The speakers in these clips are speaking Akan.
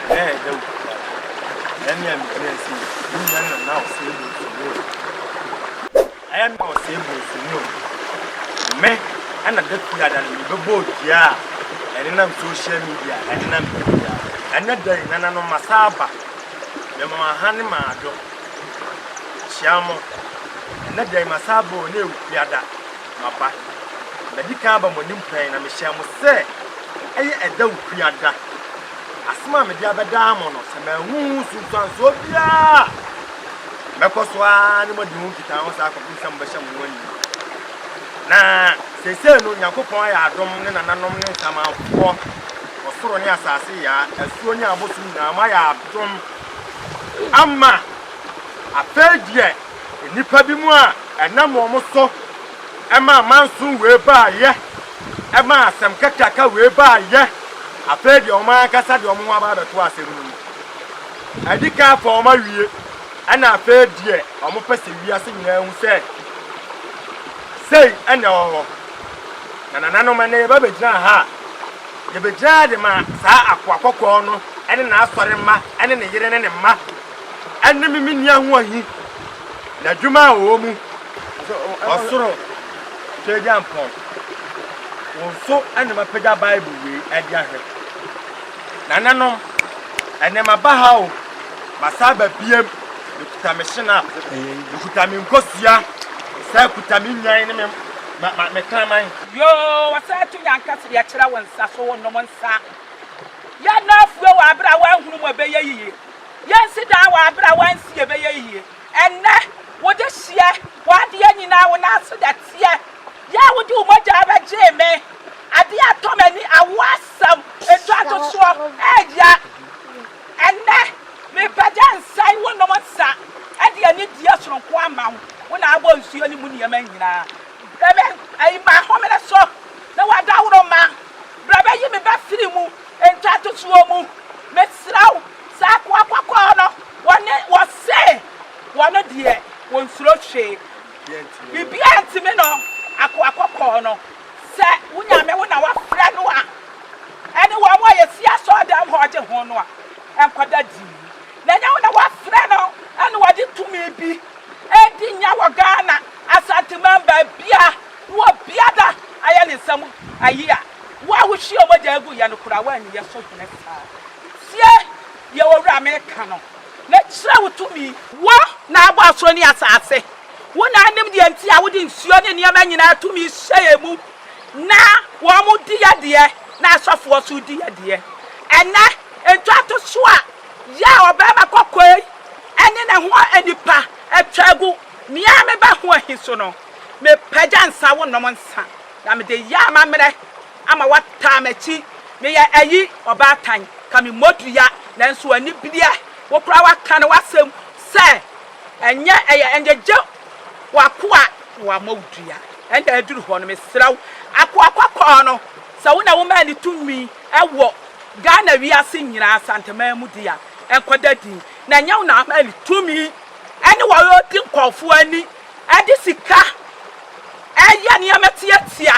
Ɛnɛ a ɛda wo kuraa no. Ɛyɛ me a me gyina ase yi. Me nua na na ɔsɛe bronsu no o. Ɛyɛ me a ɔsɛe bronsu no o. Me na da pii a da no mebɛbɔ dua a ɛnenam social media a ɛnenam da pii a. Ɛnɛ da yi nananom masan aba. Mema mo aha ne m'adɔ. Mehyia mo. Ɛnɛ da yi masan aba o na ɛwɔ kuraa da. M'aba, madi kan aba mo anim pɛn, na mehyɛɛ mo sɛ ɛyɛ ɛda okuya da. Asɛm a mede abɛdaa mo no, sɛ manhu ho nsunsuansoɔ biara a, mɛkɔ so ara ne mo adi ho nkitaho saa kɔpem sɛ mobɛhyɛ mo ho animuo. Na seesei no, Onyankopɔn ayɛ adom, ne nananom ne nsamanfoɔ, ɔsoro ne asase yaa, asuo ne abosom nyinaa, moayɛ adom ama. Afei deɛ. Nnipa binom a ɛnam wɔn so ma amanson wei baeɛ, ma asɛm kakraka wei baeɛ, afei deɛ wɔn ankasa de wɔn ho aba abɛto asɛm no mu. Adi kan afa wɔn awie, ɛna afei deɛ wɔpɛ sɛ wiase nyinaa hu sɛ sei ɛna ɛwɔ hɔ. Na nananom ɛnɛ yɛba bɛgyina ha a, yɛbɛgyina ha de ma saa akoa kɔkɔɔ no ne n'asɔre mma ne ne yere ne ne mma. Ɛne me menni ahoɔhi, n'adwuma a ɔwɔ mu, ɔsoro Tweagyampɔn. Wo nso na mapagya Bible wei de ahwɛ. Nananom, ɛnɛ maba ha o, masan aba biam, mekuta me hyena, mekuta me nkosua, mesan kuta me nnwan ne me ma, ma, me kraman. Yoo, wɔsan to yɛn anka sɛ yɛkyerɛ wo nsa so, wonom nsa. Yɛn nan afue wɔ bere a woanhunu mu a ɛbɛyɛ yiye. Yɛnsi dan wɔ abere a wansi yɛbɛyɛ yie. Ɛnnɛ wode hyeɛ w'adeɛ nyinaa wo nan ase dɛteɛ yɛ a wode wo mogyaa bɛgyee me adeɛ atɔ m'ani awo asɛm ntɔatosoɔ ɛɛya ɛnnɛ mebɛgya nsɛn wo nom nsa ɛde anidie soronko ama wo wo na abɔ nsuo ne mu nneɛma nyinaa brɛ me ayi ma ahomene so na w'adaworo ma brɛ bɛyi me bɛfiri mu Ntwatosoɔ mu, mesrɛ wo, saa akoa kɔkɔɔ no, wɔne, wɔse, wɔn deɛ, wɔnsuro hwee. Biribiara ntumi no akoa kɔkɔɔ no. Sɛ wo Nyame wo na woafrɛ no a, ɛne wɔn a yɛsi asɔɔdam hɔ gye ho no a, ɛnkɔda dii. Na ɛnyɛ wo na woafrɛ no na wɔde tumi bi ɛredi nya wɔ Ghana, Asanteman, baabiara. Wɔ bia da ayɛ ne nsa mu ayi a, wo a wo hwie mogya gu yɛ no koraa woanni yɛ so hene saa. Tie deɛ owura me reka no na kyerɛ wo tumi. Wo na abɔ asoro ne asaase, wo na anim deɛ nti a wode nsuo ne nneɛma nyinaa tumi hyɛ yɛ mu na wɔn di yɛ deɛ na asɔfoɔ so di yɛ deɛ. Ɛnɛ ntwato so a yɛ a ɔbarima kɔkɔɔ yi ne ne ho nnipa atwa agu me ara me ba ho ahi so no, Mepagya nsa wonom nsa, na mede yɛ amammerɛ ama woataa m'akyi. Meyɛ ayi, ɔbaatan, ka me mmɔdua, nanso anibereɛ, wo koraa woaka no w'asɛm sɛ, Ɛnyɛ ɛyɛ nnyegye w'akoa na wama wo dua. Ɛnna aduru hɔ no, mesrɛ wo, akoa kɔkɔɔ no, sɛ wo na womaa no tumi wɔ Ghana wiase nyinaa asanteman mu de a, ɛnkɔda dinn, na ɛnyɛ wo na womaa no tumi ne wɔn a wɔdi nkurɔfoɔ ani Ɛde sika yɛ nneɛma tiatia,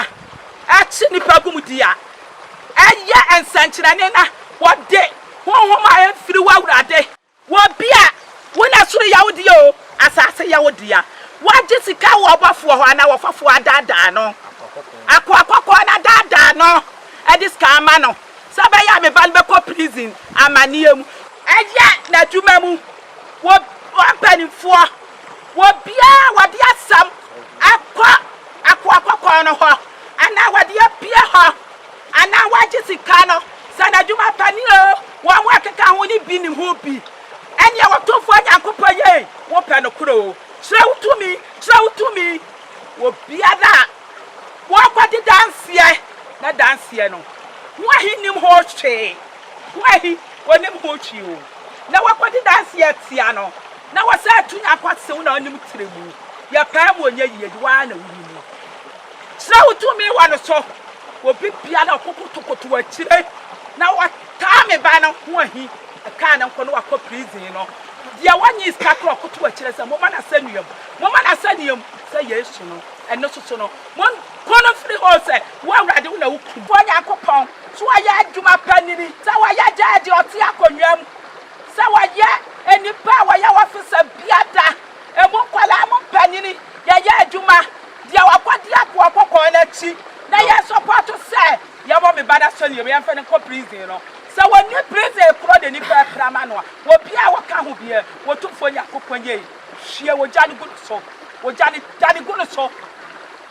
ɛkye nnipa gu mu di a, ɛyɛ nsɛnkyerɛnne na wɔde honhom a emfiri wo Awurade. Wɔ bi a, wo na soro yɛ wo dea oo, asase yɛ wo dea. Wɔagye sika wɔ ɔbɔfoɔ hɔ anaa ɔfɔfoɔ adaadaa no, akoa kɔkɔɔ no adaadaa no de sika ama no. sɛ ɔbɛyɛ a me ba no bɛkɔ prison amanneɛ mu. Ɛyɛ n'adwuma mu wɔ wɔn mpanimfoɔ wɔ biara wɔde asɛm akɔ akoa kɔkɔɔ no hɔ anaa wɔde apue hɔ anaa wɔagye sika no sɛ n'adwuma pa ne o wɔn ho ɛkeka ho ne bi ne ho bi ɛneɛ Otumfoɔ Nyankopɔn yei wopɛ nokorɛ o kyerɛ wo tumi kyerɛ wo tumi wɔ bea no a wɔkɔgye danseɛ, na danseɛ no ho ahe nnim ho hwee, ho ahe wɔnim ho hwee o, na wɔkɔgye danseɛ tia no, na wɔsɛ to nya kwa se wo na wonim tire mu, yɛpaa mu ɔnyɛ yie de, wo ara na wonim mu. Kyerɛ wo tumi wɔ no so, obi biara a ɔkokotokoto akyire na ɔtaa me ba no ho ahi, ɛkaa no nkɔ no wakɔ prison no, deɛ wɔnyee sika korɔ ɔkoto akyire sɛ momma no asɛnnua mu. Momma n'asɛnneɛ mu sɛ Yesu no, ɛno nso so no, monpo no mfiri hɔ, sɛ wo Awurade, wo na wo Kumfoɔ Nyankopɔn, so wayɛ adwuma pa nini, sɛ wayɛ gyɛɛgye ɔte akonnwa mu, sɛ wayɛ nnipa a wɔyɛ wɔfesa biada, emu nkwadaa mu mpanini, yɛyɛ adwuma, deɛ wakɔdi akoa kɔkɔɔ no akyi, na yɛ sɔpɔto sɛ yɛwɔ me ba no asɛnneɛ mu, yɛmfa no nkɔ prison no, sɛ wɔnni prison korɔ de nnipa apira ma no a, obiara a ɔka ho biara, Otumfoɔ Nyankopɔn yei. Hwie ogya no gu no so. Ogya no, da no gu no so.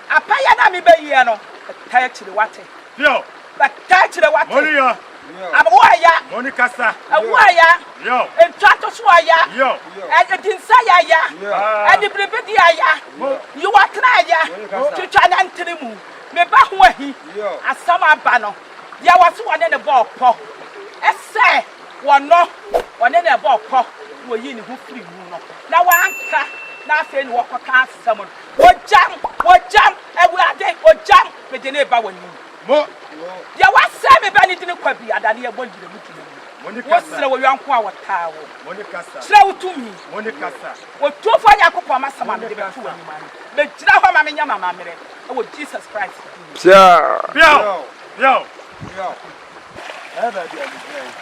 Apɛyɛ no a mebɛyiɛ no, bɛtaa akyire wate. Yo. Bɛtaa akyire wate. Mɔne ya. Awo aya. Mɔne kasa. Awo aya. Yo. Ntoatoso aya. Yo. Ɛdinsa ya ya. Ɛde biribidi aya. Mo. Yiwatena aya. Mo. Twitwa na ntene mu. Me ba ho ahi. Yo. Asɛm aba no. Deɛ wɔso wɔne ne bɔɔ pɔ. Ɛsɛ. Wɔnnɔ, ɔne no ɛbɔɔ pɔ na ɔyii ne ho firii mu no, na wɔanka, na afei na wɔkɔka asɛm no, Wɔgyam! Wɔgyam! Awurade, wɔgyam! Mede no reba w'anim. Mo. Deɛ wɔasɛe me bɛ no dini kwa bi, adane yɛ bɔ gyina mu gyina mu. Mo ne kasa. Wosrɛ wo yɔnko a wɔtaa wo. Mo ne kasa. Kyerɛ wo tumi. Mo ne kasa. Otumfoɔ Nyankopɔn m'asɛm a mede bɛto w'anim ano. Megyina hɔ ma menyɛ m'amammerɛ wɔ Jesus Christ din mu. Peaw! Peaw! Peaw! Peaw! Ɛyɛ baabi a migyina yi,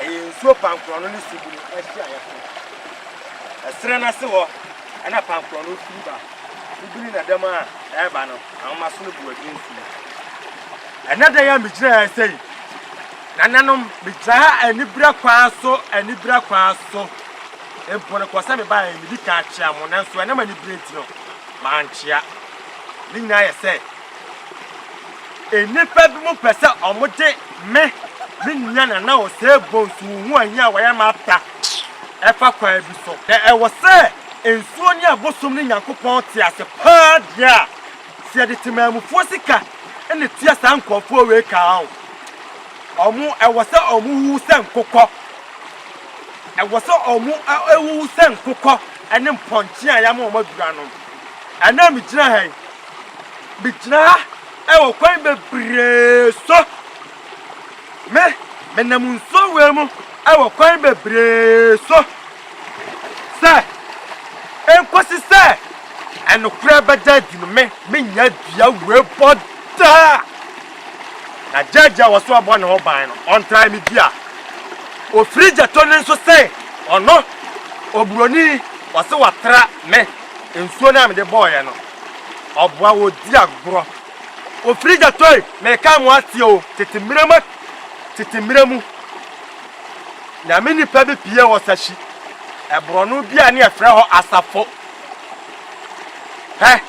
ɛyɛ nsuo pankorɔno ne subunu ahyiaeɛ so. Ɛserɛ no ase hɔ na pankorɔno firi ba. Wobiri na dɛm a ɛreba no, ahomaso no bu adi nsuo. Ɛnɛ da yi a migyina ha sɛ yi, nananom, megyina ha anibira kwan so, anibira kwan so. Mpo no kɔ sɛ mebaeɛ, medi kan akyea mo, nanso ɛnam anibire nti no, mankyea. Ne nyinaa yɛ sɛ, Nnipa binom pɛ sɛ wɔde me, me nua na na ɔsɛe bonsu ho ahia a wɔayɛ ma ata fa kwan bi so. Na ɛwɔ sɛ nsuo ne abosom ne Nyankopɔn te ase paa deɛ a, sɛ yɛde temanmufoɔ sika na tua saa nkorɔfoɔ wei ka a, wɔn ɛwɔ sɛ wɔn wuwu sɛ nkokɔ, ɛwɔ sɛ wɔn wuwu sɛ nkokɔ ne mpɔnkye a yɛama wɔn aduru anom. Ɛnnɛ a megyina ha yi, Megyina ha wɔ kwan bebree so. Me, menam nsuo wei mu wɔ kwan bebree so. Sɛ, enkosi sɛ ɛnokorɛ bɛda adi no me, menya dua wei bɔ daa. Na gyɛɛgye a wɔso abɔ ne ho ban no, ɔntrae me dua. Ofiri gyɛto ne nso sɛn, ɔno, oburoni, ɔse watra me, nsuo no a mede bɔɔeɛ no. ɔboa wɔ di agorɔ. Ofiri dza tɔe meka mo atse o tsetse mberɛ mu tsetse mberɛ mu Nyame nipa bi pie wɔ sahyi ɛbrɔno bi a ne yɛfrɛ hɔ asafo hɛ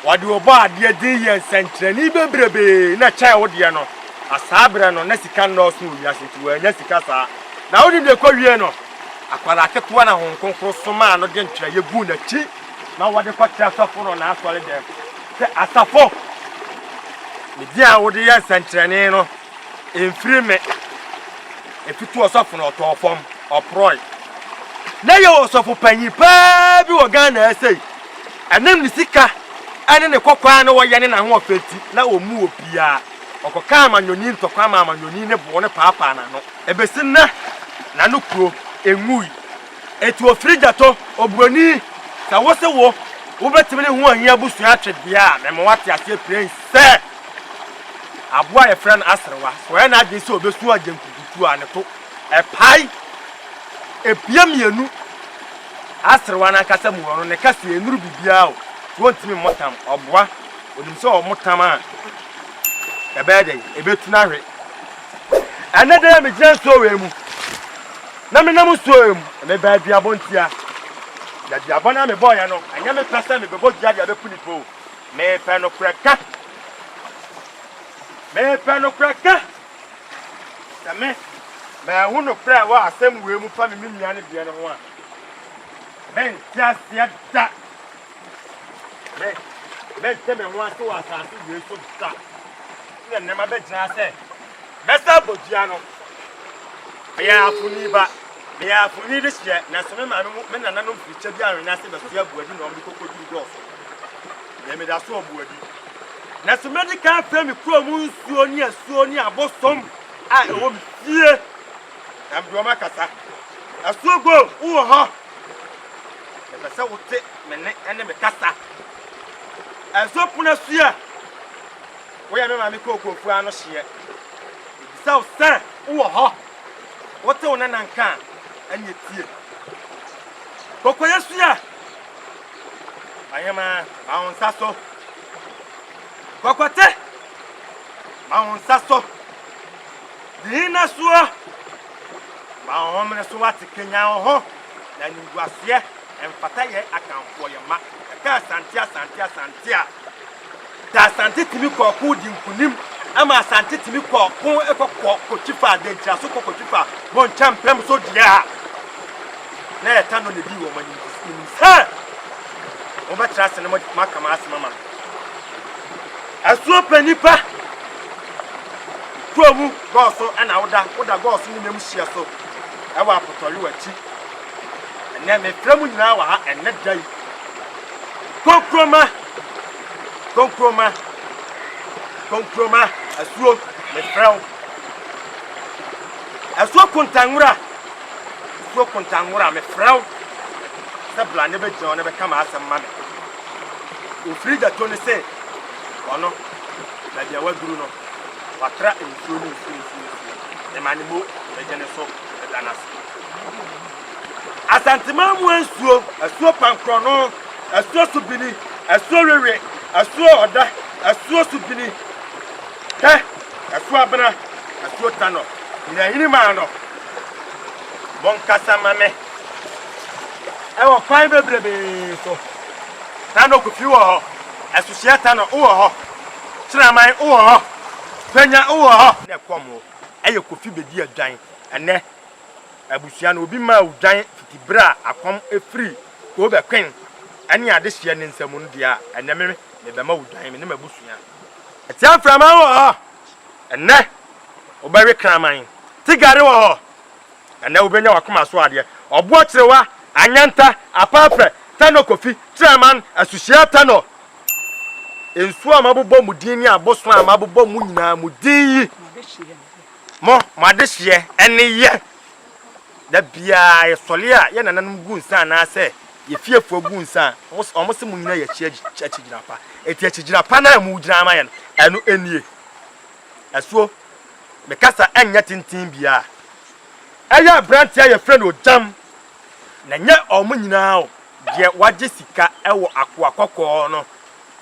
wɔde ɔbɔ adeɛ dzin yɛ nsɛnkyerɛnee bebrebee na kyɛɛ wo deɛ no na saa berɛ no na sika nnɔɔso wɔ wiase nti wɔanya sika saa na wonim deɛ ɛkɔ wie no akwadaa ketewa na Honhom Kronkron somaa no de ntwerɛeɛ guu n'akyi ma wɔde kɔkyerɛ sɔfo no n'asɔredan mu sɛ, 'Asafo, me din a wode yɛ nsɛnkyerɛnne no, emfiri me. Etutuu ɔsɔfo no, ɔtɔɔ fam, ɔporɔe. Ná yɛwɔ ɔsɔfo panyin paa bi wɔ Ghana ha sei. Ɛnam ne sika ne ne kɔkɔɔ a na ɔyɛ ne n'ahoɔfɛ nti, na ommu obiara. Ɔkɔkaa amanyɔni ntɔkwa ma amanyɔni no bɔɔ no paapaa n'ano. Ebesi nnɛ, na ne kuro nwui. Etu ofiri gya tɔ oburoni. Sɛ wo se wo wobɛtumi ne ho anyi abusua atwe deɛ a, mema woate aseɛ pirɛnn sɛ, aboa a yɛfrɛ no aserewa, sɛ ɔyɛ n'adwene sɛ ɔbɛsu agyenkukutuo a, ne to pae. Epie mmienu. Aserewa no ankasa mu hɔ no, ne kaseɛ nnuru biribiara o, nti ɔntumi mmɔ tam. Ɔboa, ɔnim sɛ ɔmo tam a, ɛbɛyɛ dɛn? Ɛbɛtu no ahwe. Ɛnnɛ da yi a megyina nsuo wei mu na menam nsuo wei mu, mebaa duabɔ ntia. Na duabɔ no a mebɔeɛ no, ɛnyɛ me pɛ sɛ mebɛbɔ dua de abɛku nipa o. Mepɛ nokorɛ ka. Mepɛ nokorɛ ka sɛ me maahu nokorɛ a ɛwɔ asɛm wei mu fa me me nua no deɛ no ho a, mente aseɛ da. Me, mɛnte me ho ase wɔ asase wei so da. So na nnɛ mabɛgyina sɛ mɛsa abɔ dua no? Meyɛ afoni ba. Meyɛ afoni de hyɛ, nanso me maame mu me nananom firi kyɛ bi anwene ase bɛsoɛ aboadi na wɔde kɔkɔduru dɔɔso. Deɛ meda so aboadi. Nanso mɛdi kan afrɛ me kuro mu nsuo ne asuo ne abosom a ɛwɔ me fie. Na mede wɔn akasa. Asuo go, wowɔ hɔ? Mepɛ sɛ wote me nne ne me kasa. Ɛso pono asua. Woyɛ me maame kookoofo ano hyeɛ. Mebisa wo sɛ wowɔ hɔ. Wote wo nana nka a, ɛnneɛ tie. Kokoyɛ asua. Ɔhema, ma wo nsa so. Kɔkɔte, ma wo nsa so. Nnyinasoɔ, Ma wo homene so ate kanyan wo ho, na animguaseɛ mfata yɛn akanfoɔ yɛ ma. Yɛka Asante Asante Asante a, da Asante tumi kɔ ɔko di nkonim, ɛma Asante tumi kɔ ɔko kɔ kɔ kɔtwi fa Adankyira so kɔ kɔtwi fa Bonkya Mpem so deɛ a, na yɛta no na ɛdii wɔn anim kɔsi wɔn nim sɛ wɔbɛtra ase na moaka m'asɛm ama me. Asuo pɛ nnipa kuro mu gɔɔ so na woda woda gɔɔ so ne nyam hyia so ɛwɔ apotɔyo akyi ɛnɛ mefrɛ mu nyinaa wɔ ha ɛnɛ da yi konkroma konkroma konkroma asuo mefrɛ wo asuo kontanwura asuo kontanwura mefrɛ wo sɛ bla ne bɛgyina wo ne bɛka ma asɛm ma me Wɔfiri gya to no se ɔno, na deɛ waduru no, watra nsuo ne nsuo mfiri so, ema ne mo bɛgye ne so bɛda no ase. Asanteman mu nsuo, asuo pankorɔno, asuo subini, asuo wewe, asuo ɔda, asuo subini, pɛ, asuo abena, asuo tanɔ, nyinaa hini maa no. Monkasa ma me. ɛwɔ kwan bebrebee so. Na nokofi wɔ hɔ, asusuɛta no wɔ hɔ, kyeraman wɔ hɔ, fanya wɔ hɔ. Na ɛkɔm wɔ ɛyɛ kofi bedi adwan. Ɛnɛ abusua no obi maa wo dwan fiti bere a akɔm firi Kobe Queen ɛne adehyeɛ ne nsa mu no deɛ a, ɛnɛ me mebɛma wo dwan, me ne m'abusua. Ɛte mframa wɔ hɔ, ɛnɛ wobɛwe kraman. Te gare wɔ hɔ. Ɛnnɛ wobɛnya w'akoma so adeɛ, ɔboɔ kyerewa, anyɛnta, apɛɛpɛ, tɛnɔ kofi, kyerɛman, asuhyia tɛnɔ, nsuo a mabobɔ mo din ne abosoan a mabobɔ mo nyinaa mo din yi, mo, mo adehyeɛ, ɛne yɛ. Da biara yɛsɔre a yɛn nananom gu nsa anaasɛ yɛn fiefoɔ gu nsa a, wɔn se mo nyinaa yɛ akyigyina pa. Enti akyigyina pa no a mogyina ama yɛn no, ɛno nie. Asuo, me kasa nyɛ tenten biaa. Ɛyɛ abranteɛ a yɛfrɛ no Ogyam, na ɛnyɛ ɔmo nyinaa o, deɛ wagye sika wɔ akoa kɔkɔɔ no,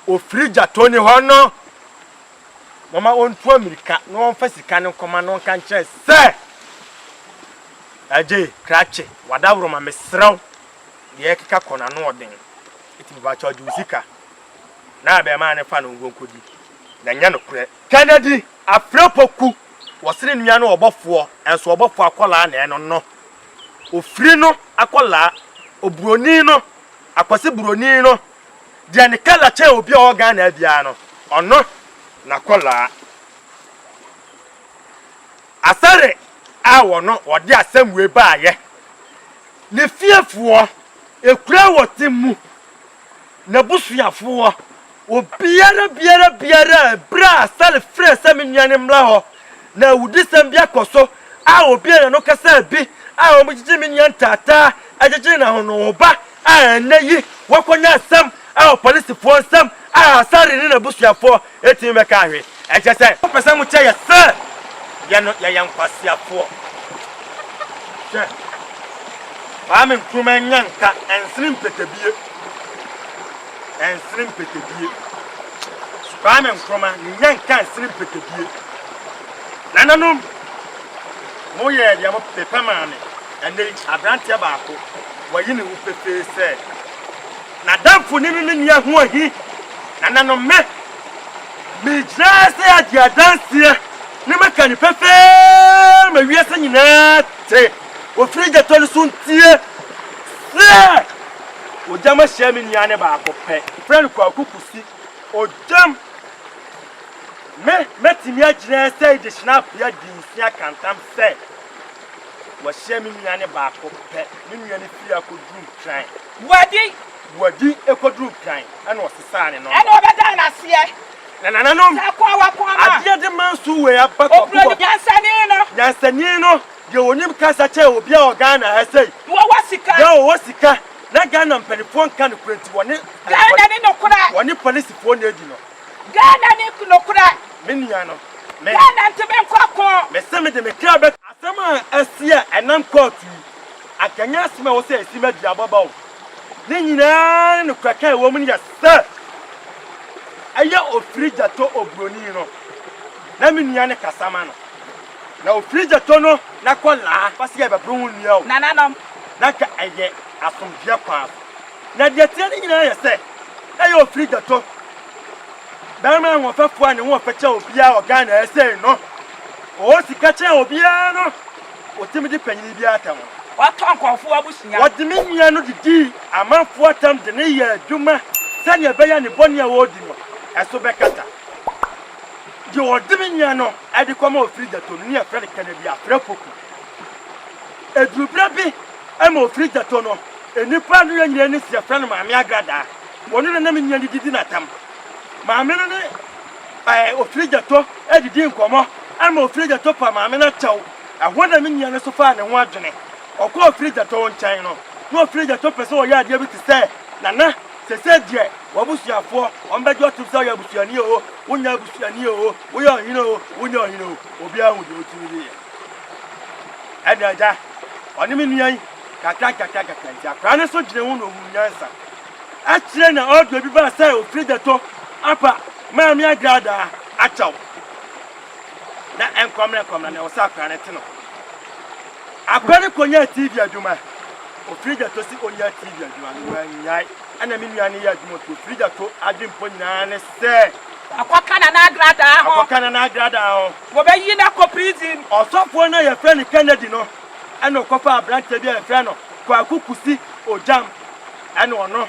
ofiri gya Tony hɔ no, momma ɔntu amirika na ɔmfa sika no nkɔma no nka nkyerɛ sɛ, Agye, Krakye, w'adaworoma mesrɛ wo, deɛ ɛkeka kɔ no ano ɔden, nti mepakyɛw gye wo sika na abarimaa no fa no nkonkodi. na ɛnyɛ nokorɛ. Kennedy Afrɛpoku wɔsene nua no ɔbɔfoɔ nso ɔbɔfoɔ akwadaa na ɛno no ofiri no akwadaa oburoni no akwasi buroni no deɛ ne kala kyɛn obi a ɔwɔ Ghana biara no ɔno na akwadaa asare a wɔno wɔde asɛm wei baayɛ ne fiefoɔ ekura wɔte mu n'abusuafoɔ Obiara biara biara a ɛberɛ a Salif frɛɛ sɛ me nuanom mmra hɔ na awudisɛm bi akɔ so a obiara n'ano kasaa bi a wɔgyegye me nua ntaataa gyegye n'ahonoho ba a ɛnnɛ yi wɔakɔnya asɛm wɔ polisifoɔ nsam a Asare ne n'abusuafoɔ ɛtumi bɛka ahwe ɛkyɛ sɛ wɔpɛ sɛ wɔkyɛ yɛ sɛ yɛ no yɛyɛ nkwaseafoɔ hwɛ Kwame Nkrumah nya nka ɛnsene mpɛtɛbie. ɛnsene mpɛtɛdie. Kwame Nkrumah ne nya nka nsene mpɛtɛdie. Nananom, moyɛɛ deɛ mopɛ maa me. Ɛnɛ yi, aberanteɛ baako, wayi ne ho pefee sɛ, n'adamfo ne ne nua ho ahi. Nananom, me, megyina ha sɛ agye adanseɛ ne maka no pefee ma wiase nyinaa te wɔ firi gyatɔ no so ntie sɛ, Ogyam ahyia me nua ne baako pɛ. Frɛ no Kwaku Kusi. Ogyam! Me, mɛtumi agyina ɛsɛ yi de hyena apia dinsia ka ntam sɛ, wahyia me nua ne baako pɛ. Me nua no firi akɔduru Nkran. Boadi! Boadi kɔduru Nkran, ɛna ɔsesaa ne nɔma. Ɛna ɔbɛdaa no aseɛ. Na nananom, adeɛ de ma nso wei aba Kwaku hɔ. Nyansani no. Nyansani no. Deɛ ɔnim kasa kyɛn obiara wɔ Ghana ha sei. Deɛ ɔwɔ sika. Deɛ ɔwɔ sika na Ghana mpaninfoɔ nka nokorɛ nti wɔne. Ghana ne nokorɛ. Wɔne polisifoɔ na edi no. Ghana ne nokorɛ. Me nua no, me. Ghana nti me nkɔ ko. Me se me de me kra bɛ. Asɛm a asi a ɛnam kɔɔto yi, anka ɛnyɛ asɛm a ɛwɔ sɛ ɛsi ma duaba ba o. Ne nyinaa ne nokorɛ ka a ɛwɔ mu no yɛ sɛ, ɛyɛ ofiri gya tɔ oburoni no na me nua no kasa ma no. Na ofiri gya tɔ no na kɔ laa. Fa seɛ bɛpere ho nnua o. Nananom. Na nka ɛyɛ asomdwoeɛ paa. Na deɛ ɛteɛ no nyinaa yɛ sɛ, na ɛyɛ ofiri gya tɔ barima ahoɔfɛfoɔ a ne ho ɔfɛ kyɛn obiara wɔ Ghana ha sei no. Ɔwɔ sika kyɛn obiara no. Ɔtumi di panyini biara atɛm ho. Ɔtɔ nkurɔfoɔ abusua. Ɔde me nua no didii amanfoɔ atɛm de no yɛɛ adwuma sɛdeɛ ɛbɛyɛ a ne bɔne a ɔredi no, ɛso bɛkata. Deɛ ɔde me nyɛ no de kɔma ofiri gyato no ne yɛfrɛ no Kennedy Aprapoku. Ɛduru berɛ bi ma ofiri gyato no, nnipa a ne yɛ nyina ani si yɛfrɛ no Maame Agradaa. Ɔno na na me nyɛ no didi no atam. Maame no ne ɛɛ ofiri gyato didi nkɔmmɔ ma ofiri gyato pa maame no akyɛw. Ɛhɔ na me nyɛ no so faa ne ho adwene. Ɔkɔɔ ofiri gyato nkyɛn no, na ofiri gyato pɛ sɛ ɔyɛ adeɛ bi te sɛ Nana. Sesei deɛ, w'abusuafoɔ, wɔn bɛgye ɔtom sɛ woyɛ abusuani oo, wonyɛ abusuani oo, woyɛ ɔhene oo, wonyɛ ɔhene oo, obiara hu deɛ wotumi de yɛ. Ɛnna agya, ɔne me nua yi, kakra nkakra nkakra nti, akwadaa no nso dwenee ho na ɔhuu nyansa. Akyire na ɔɔdwene bi baa sɛ ɔfiri Ghetto aba Maame Agradaa akyɛw. Na ɛnkwammerɛ kwammerɛ na ɛwɔ sɛ akwadaa no te no. Akwadaa no kɔnyaa TV adwuma. Ofiri da to se onyaa TV adwuma no, wannyae. Ɛna me nua no yɛ adwuma ofie. Ofiri da to adwen mpo nyinaa ne sɛ. Akɔka Nana Agradaa ho. Akɔka Nana Agradaa ho. Wɔbɛyi no akɔ prison. Ɔsɔfoɔ no a yɛfrɛ no Kennedy no, ɛna ɔkɔfaa aberanteɛ bi a yɛfrɛ no Kwaku Kusi Ogyam, ɛna ɔno na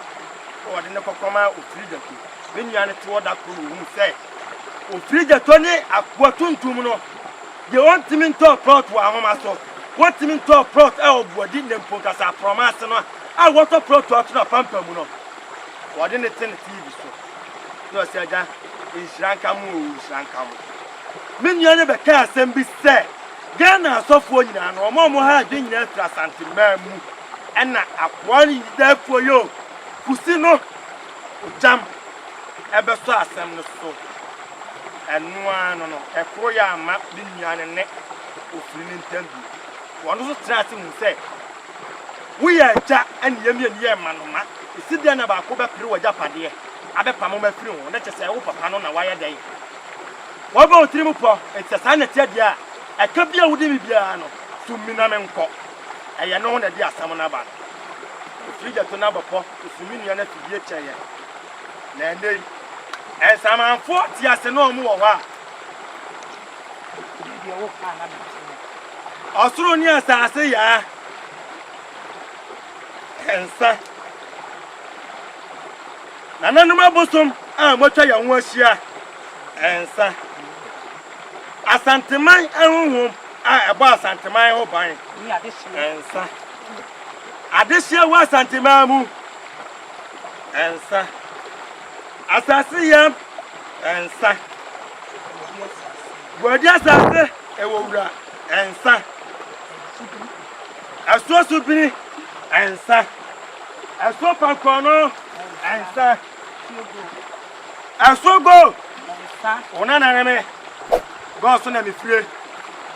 wɔde no kɔkɔmaa Ofiri da to. Me nua no te hɔ da koro na ɔhuu sɛ Ofiri da to ne akoa tuntum no Deɛ wɔntumi ntɔɔ plɔt wɔ ahoma so, wɔntumi ntɔɔ plɔt wɔ boadi na mpo nkasa prɔma ase no a wɔtɔ plɔt ato no apampa mu no, wɔde no te ne TV so na ɔse agya nhyira nka mo oo nhyira nka mo. Me nua no bɛkaa asɛm bi sɛ Ghana asɔfoɔ nyinaa no wɔn a wɔha adwene nyinaa firi Asante man mu ɛna akoa no nyinaa fo yoo kusi no. Ogyam bɛsɔ asɛm no so. Ɛno ara no no, ɛkoro yɛ amma ne nua no ne ofiri no ntam bio. Wɔn nso tenaa ase huu sɛ, Woyɛ agya ne yɛn mmienu yɛ mmanoma. Ɛsi dɛn na baako bɛpere w'agyapadeɛ abɛpamo mo afiri ho? Na kyerɛ sɛ, wo papa no na wayɛ dɛn? Wabɔ wo tirim pɔ? Enti sɛ saa na ɛte deɛ a, ɛka bi a wode me biara no, so mina menkɔ. Ɛyɛ no ho na ɛde asɛm no aba no. Ofiri gya to n'abɔpɔ, osumu nnua no afidie kyɛ yɛn. Na ɛnnɛ yi, nsamanfoɔ te ase na wɔn wɔ hɔ a. Ɔsoro ne asase yaa. Ɛnsa. Nananom abosom a wɔatwa yɛn ho ahyia. Ɛnsa. Asanteman ahonhom. a ɛbɔ Asanteman ho ban nsa. Adehyeɛ wɔ Asanteman mu nsa. Asase yam nsa. Buadi asase ɛwɔ wura nsa. Ɛsoɔ subini nsa. Ɛsoɔ pankɔnɔ nsa. Asogo! Ona na ne me. Gɔs na me fire.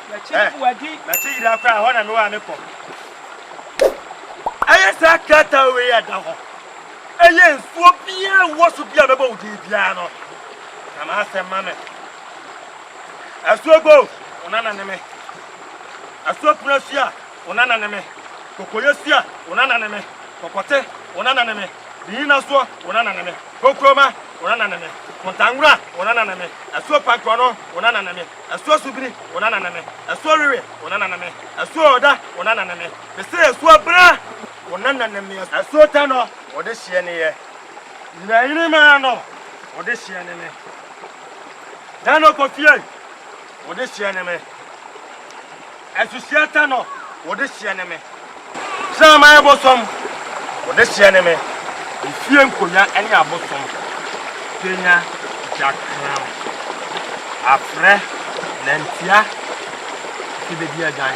Na kyi eh, wadi. Na kyi yira kora hɔ na me wa me kɔ. Ɛyɛ saa krataa wei a da hɔ. Ɛyɛ nsuo biara wɔ so bi a bɛbɔ wo din biara no. Na m'asɛm ma me. Asogo! Ona na ne me. Asogo kuna sua. Ona na ne me. Kokoye sua. Ona na ne me. Kɔkɔte. Ona na ne me. Ne nyina soɔ wo na nane me. Kokroma wo na nane me. Kontangura wo na nane me. Asuo Pankrɔno wo na nane me. Asuo Subiri wo na nane me. Asuo Wewe wo na nane me. Asuo Ɔda wo na nane me. Me se Asuo Bra wo na nane me. Asuo Tanɔ wo de hyeɛ ne yɛ. Nyinayini maa nɔ wo de hyeɛ ne me. Dano Kofie wo de hyeɛ ne me. Asusua ta no wo de seɛ ne me. Kraman bosom wo de seɛ ne me. Efie nkonwa ne abosom kenya gya kram. Aprɛ na ntia fi bedi adwan.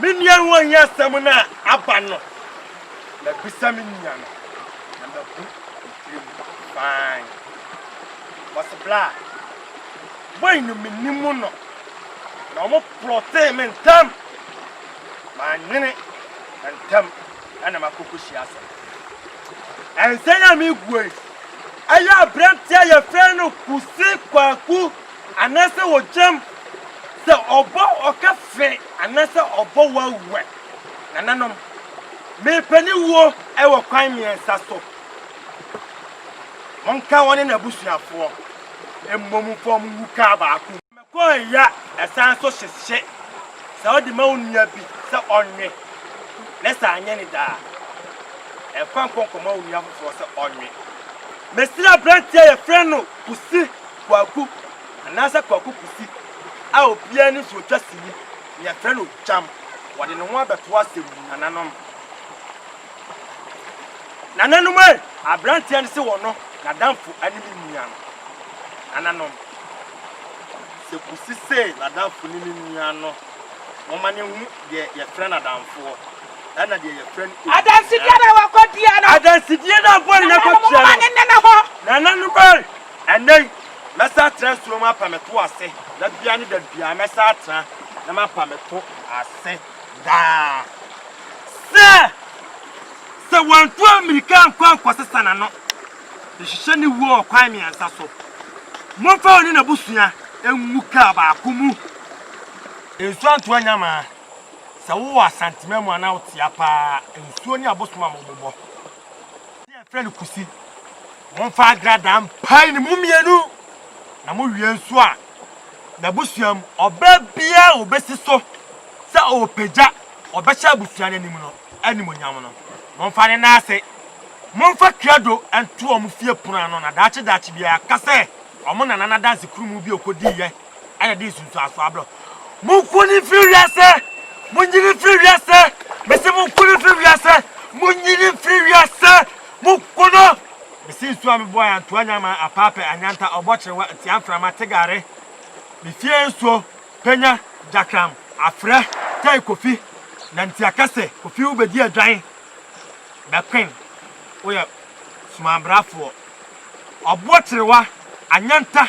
Me nua no anyi asɛm no a aba no, mabisa me nua no, na mabu ne tirim fann. Wɔse bla a, boy no menim no, na wɔn plɔtee me ntɛm. Manyene na ntɛm ɛna makɔ kɔhyia asɛm. Ɛnsɛn a megu yi, ɛyɛ aberanteɛ a yɛfrɛ no Kuse Kwaku Anaasɛ wogyam sɛ ɔbɔ ɔka fɛ anaasɛ ɔbɔ wawuɛ. Nananom, merepɛ ne wuo wɔ kwan mmiɛnsa so. Monka wɔne n'abusuafoɔ mmom mfa wɔn ngu kaa baako mu. Mekɔɔ ya ɛsan nso hyehye sɛ wode ma wo nua bi sɛ ɔnwe, na sɛ anyɛ ne dɛ a, mfa nkɔ nkɔma wo nua foforɔ sɛ ɔnwe. Mesrɛ aberanteɛ a yɛfrɛ no. Kusi Kwaku anaasɛ Kwaku Kusi a obiara nim sɛ otwa sini na yɛfrɛ no Gyam. Wɔde ne ho abɛto asɛm mu, Nananom, Nananom ei! Aberanteɛ no se ɔno, n'adamfo ne me nua no, Nananom, sɛ Kusi se n'adamfo ne ne nua no, momma no nhu deɛ yɛfrɛ no adamfoɔ. ɛna deɛ yɛfrɛ no ewuo. Adansedie na wakɔ dua no. Adansedie na abɔre no akɔ tua no. Nananom mma ne nena hɔ. Nananom ɛɛ. Ɛnɛ yi mɛsan atena nsuo mu apa me to ase da biara ne da biara mɛsan atena na mapa me to ase daa. Sɛ sɛ wantu amirika ankɔ ankɔsesa n'ano nhyehyɛ ne wuo wɔ kwan mmiɛnsa so. Momfa ɔne n'abusua ngu kaa baako mu. Nsuo anto anyamaa. Sɛ wowɔ Asanteman mu anaa wote ha paa a, nsuo ne abosom a wɔbobɔ ase a yɛfrɛ no kusi. Momfa agradaa mpae ne mu mmienu na mowie nso a, n'abusua mu ɔbaa biara a wɔbɛsi so sɛ ɔrepagya ɔbɛhyɛ abusua no anim no animuonyam no, momfa ne nan ase. Momfa krado nto wɔn fie pono ano na daakye daakye biara ka sɛ wɔn nana no adansekurumu bi a ɔkɔdiiɛ Ɛna de nsunsuan aso abrɛ. Monko no mfiri wiase! Monyi no mfiri wiase! Mese monko no mfiri wiase! Monyi no mfiri wiase! Monko no! Mese nsuo a mebɔɔ antoa nyama, apaapɛ, anyanta, ɔbɔ kyerewa, ntia mframa, tegare, mefie nsuo, panya, gyakram, afrɛ, tɛe Kofi, nantiakɛse, Kofi wo bɛdi adwan, Bɛkwen, woyɛ sumanbrafoɔ, ɔbɔ kyerewa, anyanta,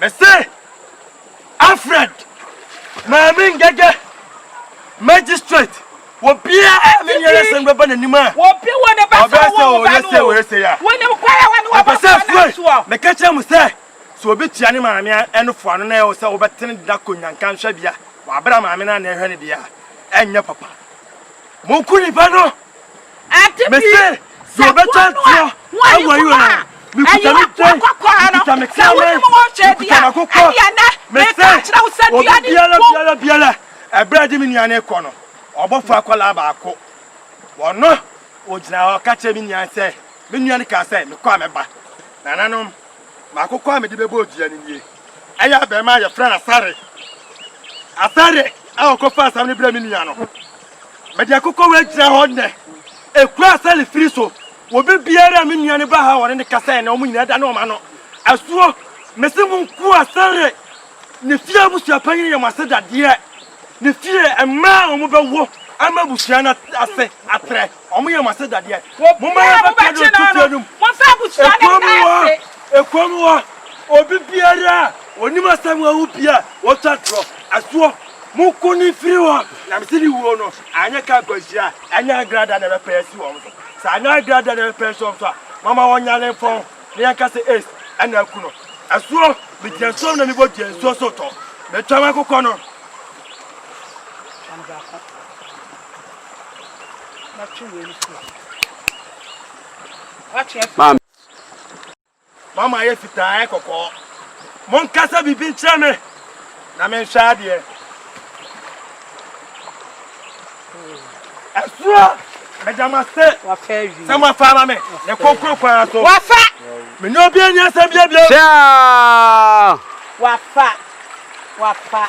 Mese Alfred Maame Ngege, Magistrate, obiara a ne nyɛrɛsɛm bɛba n'anim a ɔbɛyɛ sɛ ɔyɛ sɛ ɔyɛ sɛ a ɛpɛ sɛ fue meka kyerɛ mo sɛ sɛ obi tua ne maame ɛno foa no na ɛwɔ sɛ wobɛtene de nakɔ nyanka nhwɛ bea wɔabrɛ maame no a na ɛhwɛ no deɛ a ɛnyɛ papa monku nipa no Mese, deɛ ɔbɛtwa ntorɔ wɔ Israel, mekuta me dwe, mekuta me kraman, mekuta m'akokɔ, mese, obi biara biara biara, ɛberɛ a ɛde me nua no rekɔ no, ɔbɔfoɔ akwadaa baako, ɔno, ɔgyina hɔ, ɔka kyerɛ me nua no sɛ, me nua no kaa sɛ, mekɔ a mɛba, nananom, m'akokɔ a mede bɛbɔ dua no nie, ɛyɛ abɛɛma a yɛfrɛ no Asare, Asare a ɔkɔfa asɛm no brɛ me nua no. Mede akokɔwei agyina hɔ nnɛ. Ekura sɛle firi so. Wɔ bere biara a me nua no ba ha a wɔne no kasa ɛ na wɔn nyinaa da ne wɔn ano. Asuo, mese mo nko a sɛle ne fie abusua panyin yɛ mo ase dadeɛ. Ne fie, mmaa a wɔbɛwo ama abusua no ase atrɛ. Wɔn yɛ mo asɛdadeɛ. Momma yɛbɛka no nto fie no mu. Ekuo mu hɔ, ekuo mu hɔ, obi biara a ɔnim asɛm a awu pii a wɔtwa torɔ, ɛsoɔ, monko no mfiri hɔ, na mese ne wuo no, anyɛ ka akwanhyia a ɛnyɛ agrada na ɛbɛpɛ asi wɔn so. Sɛ anyɛ agrada na ɛbɛpɛ asi wɔn so a, momma wɔnya ne mfɔn, na yɛnka sɛ ace na aku no. Ɛsoɔ, megyina nsuo mu na mebɔ dua, nsuo so tɔ. Metwa m'akokɔ no. Mɛtwe wei no firi ha. Atwe afiri. Maame. Mama ayɛ fitaa ayɛ kɔkɔɔ. Monkasa biribi nkyerɛ me na menhwɛ adeɛ. Ɛsoɔ meda mo ase sɛ moafa ama me ne kɔnkɔn kwan so. Wafa. Menye obi ani asɛm bia bio. Hyɛa. Wafa. Wafa.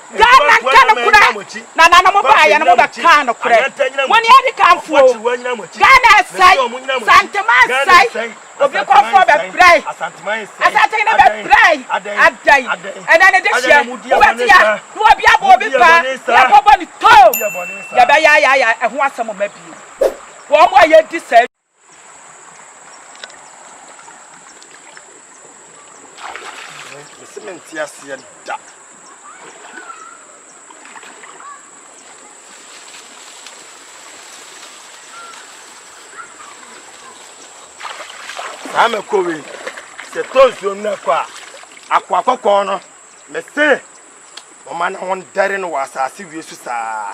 Ghana nka nokorɛ, nananom baeɛ no mobɛkaa nokorɛ, mone adikanfoɔ o, Ghana nsɛe, Santeman nsɛe, obi kɔfoɔ bɛbrɛe, Asante no bɛbrɛe, adɛn, ɛnɛ ne dehyeɛ, wobɛteɛ, ne obi abɔ obi paa, yɛkɔbɔ no too, yɛbɛyayaaya, ɛho asɛm mma bio, wɔn a yɛdi saa. Mese mente aseɛ da. Saa mako wei sɛ tɔ nsuo no kɔ a akoa kɔkɔɔ no mese wɔma ne ho ndɛre no wɔ asase wie so saa.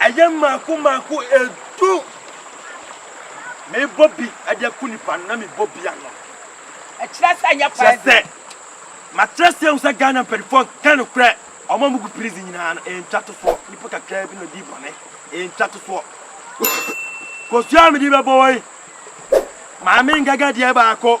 Ɛyɛ mmaako mmaako du. Mebɔ bi de aku nnipa no na mebɔ bi ano. Ɛkyerɛ sɛ ɛnyɛ fire drill. Kyerɛ sɛ makyerɛ aseɛ ahu sɛ Ghana mpanimfoɔ nka nokorɛ. Wɔn a wɔgu prison nyinaa no, ɛyɛ ntwatosoɔ. Nnipa kakraa bi na wɔdi bɔne. Ɛyɛ ntwatosoɔ. Kosua a mede rebɛbɔ wo yi, Maame Nkaga deɛ baako.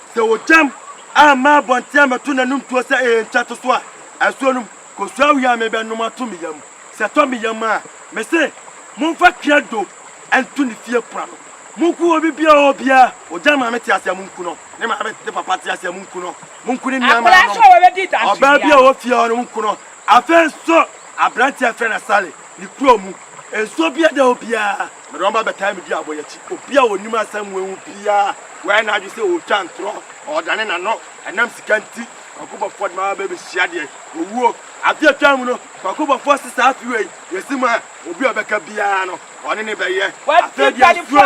Sɛ ogyam amma abɔnten ammɛto n'anom tuo sɛ ɛyɛ nkyɛtoso a, asuo no mu kosua wia a mebɛnom ato me yam. Sɛ ɛtɔ me yam a, mese, Momfa twea dwo nto ne fie pon ano. Monku obi biara a obiara ogya maame te ase a, monku no. Ne maame ne papa te ase a, monku no. Monku ne nuammaanom. Ɔbaa biara a ɔwɔ fie hɔ no, monku no. Afei nso, aberante a wɔfrɛ no Sally, ne kurow mu nsuo biara da hɔ biara. Mede wɔn ba bɛtaa me dua aboyakyi. Obi a onim asɛm wɔ ho biara, wayɛ n'adwene sɛ ɔretwa ntorɔ, ɔredane n'ano, ɛnam sika nti. Kwaku Bɔfoɔ de me aba bɛbɛhyia deɛ? Owuo. Afe a atwam no, Kwaku Bɔfoɔ se saa afe wei, yɛasi mu a, obi a ɔbɛka biara no, ɔne no bɛyɛ. Afei deɛ asuo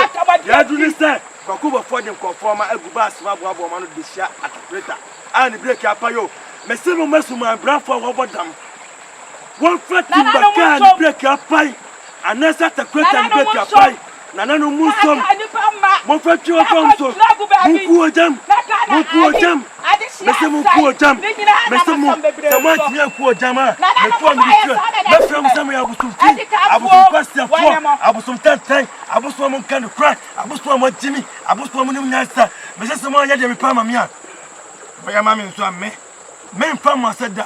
deɛ aduru ne sɛ, Kwaku Bɔfoɔ de nkurɔfoɔ ma agu bus mu aboaboa wɔn ano de bɛhyia Attack Predator a ne breki apa yɛ o. Mese mo mma sumanbrafoɔ a wɔabɔ dam Wɔmfa timba kaa ne brɛɛki apan, anaasɛ atakorata ne brɛɛki apan. Nananom monsom, momfa twi mfa wɔn so. Monku ogya mu! Monku ogya mu! Mese monku ogya mu! Mese mo, sɛ moantumi anku ogya mu a, mɛtoa me de kyerɛ. Mɛfrɛ mo sɛ moyɛ abosomfi, abosom nkwaseafoɔ, abosom tantan, abosom a monka nokorɛ, abosom a moagye me, abosom a monim nyansa. Mese sɛ moanyɛ deɛ mepɛ ama me a, moyɛ ma me nso a, me, meremfa mo ase da.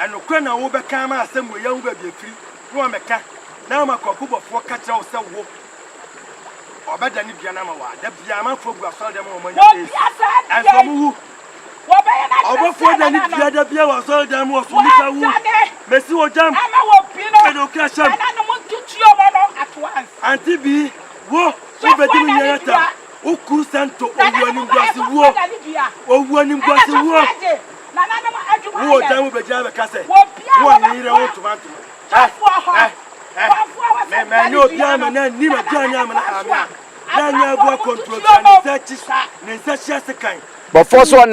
Ɛnokorɛ na wo bɛka ama asɛm wei ahu baabi afiri, na wɔamɛka, na ama kwaku bɔfoɔ ka kyerɛ wo sɛ wo ɔbɛdane dua no ama wo a, da biara amanfoɔ gu asɔredɛm ma wɔn anya Yesu, ɛnso wɔn wu. Ɔbɔfoɔ dane dua da biara wɔ asɔredɛm mu wɔ so mu sɛ wo, mɛsi wo gyam, mede wo kra hyɛm, ante bi wo, wo bɛdi me nua Yonatan, wo kuru sɛnto, owuo animguase wuo, owuo animguase wuo. Wo wɔ dan mu bɛgyina abɛka sɛ wo wɔ ne yere ho ntoma ntoma. Ɛ ɛ ɛ me ma ɛnyɛ obiara ma na nni m'agya ne amena ame a na nyɛ aboa kɔnturotua ne nsa akyi ne nsa hye ase kan. Bɔfoɔ so ɔne.